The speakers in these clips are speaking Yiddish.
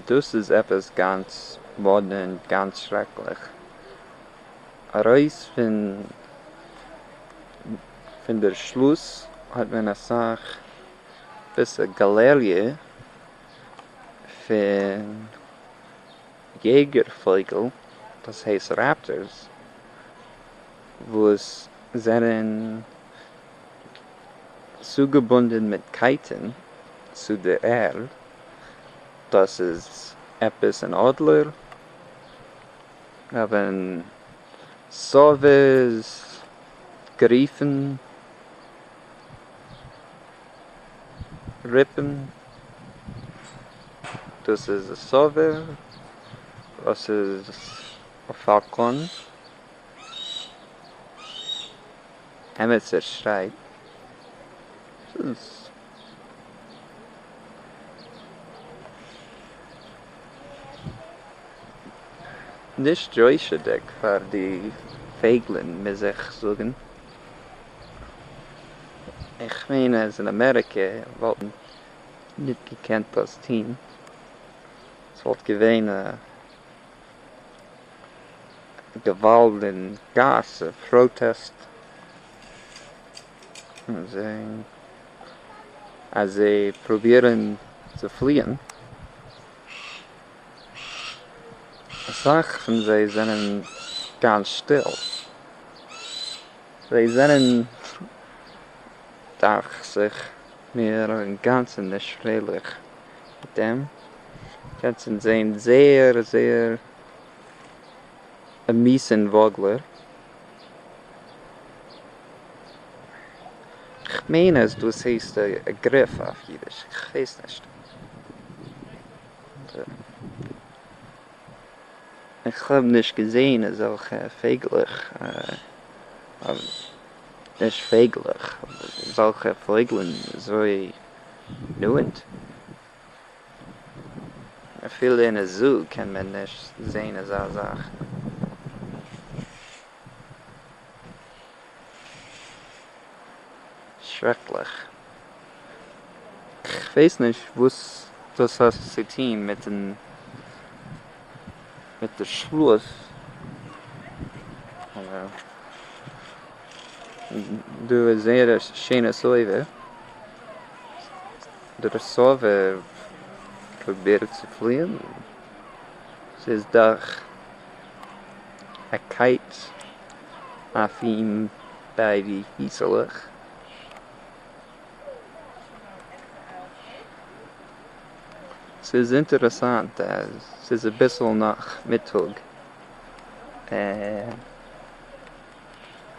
דאס איז עפעס גאנץ מאדנע און גאנץ שרעקליך. ארויס פון דער שלוס האט מען אסאך ביסע גאלעריע פון יעגער-פויגל, דאס הייסט ראפטערס, וואס זענען. צוגעבונדן מיט קייטן צו דער ערד, דאס איז עפעס אין אדלער אוון סאוויס גריפן ריפן, דאס איז א סאווער, דאס איז א פאלקאן. עמיצער שרייט ס'איז נישט יושר'דיג פאר די פייגלען מיר זיך זאגן, איך מיין אז אין אמעריקע וואלט מען ניט געקענט דאס טון, ס'וואלט געווען א. געוואלד אין גאס און פראטעסט אז זיי פרובירן צו פליען, אסאך פון זיי זענען גאנץ שטיל, זיי זענען דאכט זיך מיר אינגאנצן נישט פרייליך. מיט דעם קענסט אונז זעהן זייער זייער עמיץ און וואגלער. כ'מיין אז דאס הייסט אגריף אויף אידיש, כ'ווייס נישט. כ'האב נישט געזעהן אזעלכע פייגלעך, נישט פייגלעך, אזעלכע פויגלען אזוי נו אונד אפילו אין א זו קען מען נישט זעהן אזא זאך. שרעקליך. כ'ווייס נישט וואס דאס האט צו טוהן מיטן מיט די שלוס. דא איז זייער א שיינע סובב, דער סובב פרובירט צו פליען, ס'איז דאך א קייט אויף אים ביי די פיסעלעך. ס'איז אינטערעסאנט אז ס'איז אביסל נאך מיטאג.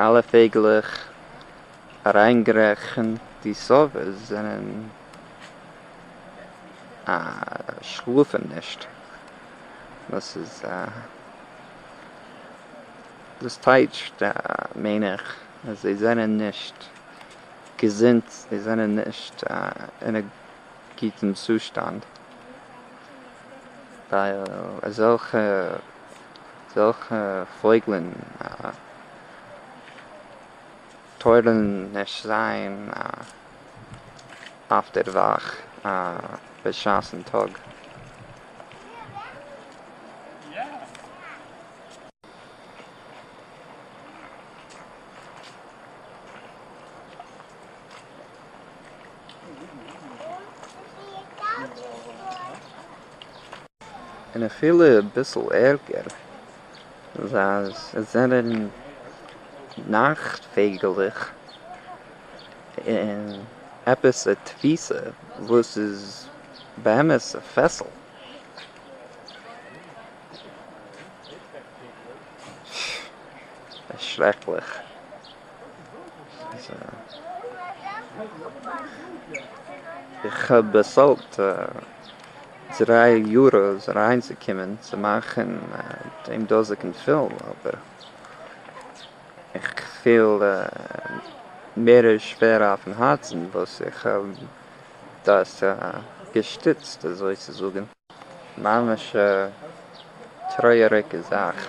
אלע פייגלעך אריינגערעכנט די סאווערס זענען א שלאפן נישט דאס איז דאס טייטשט מיין איך אז זיי זענען נישט געזונט זיי זענען נישט אין א גוטן צושטאנד ווייל אזעלכע זעלכע פויגלען טאָרן נישט זיין אויף דער וואַך בשעת'ן טאָג. און אפילו אביסל ערגער, אז עס זענען נאכט-פייגעלעך און עפעס א תפיסה וואס איז באמת א פעסל. שרעקליך. איך האב באצאלט דריי יורא'ס אריינצוקומען צו מאכן דעם דאזיגן פילם, אבער איך פיל מער שווער אויפן הארצן וואס איך האב דאס געשטיצט אזוי צו זאגן. ממש א טרויעריגע זאך.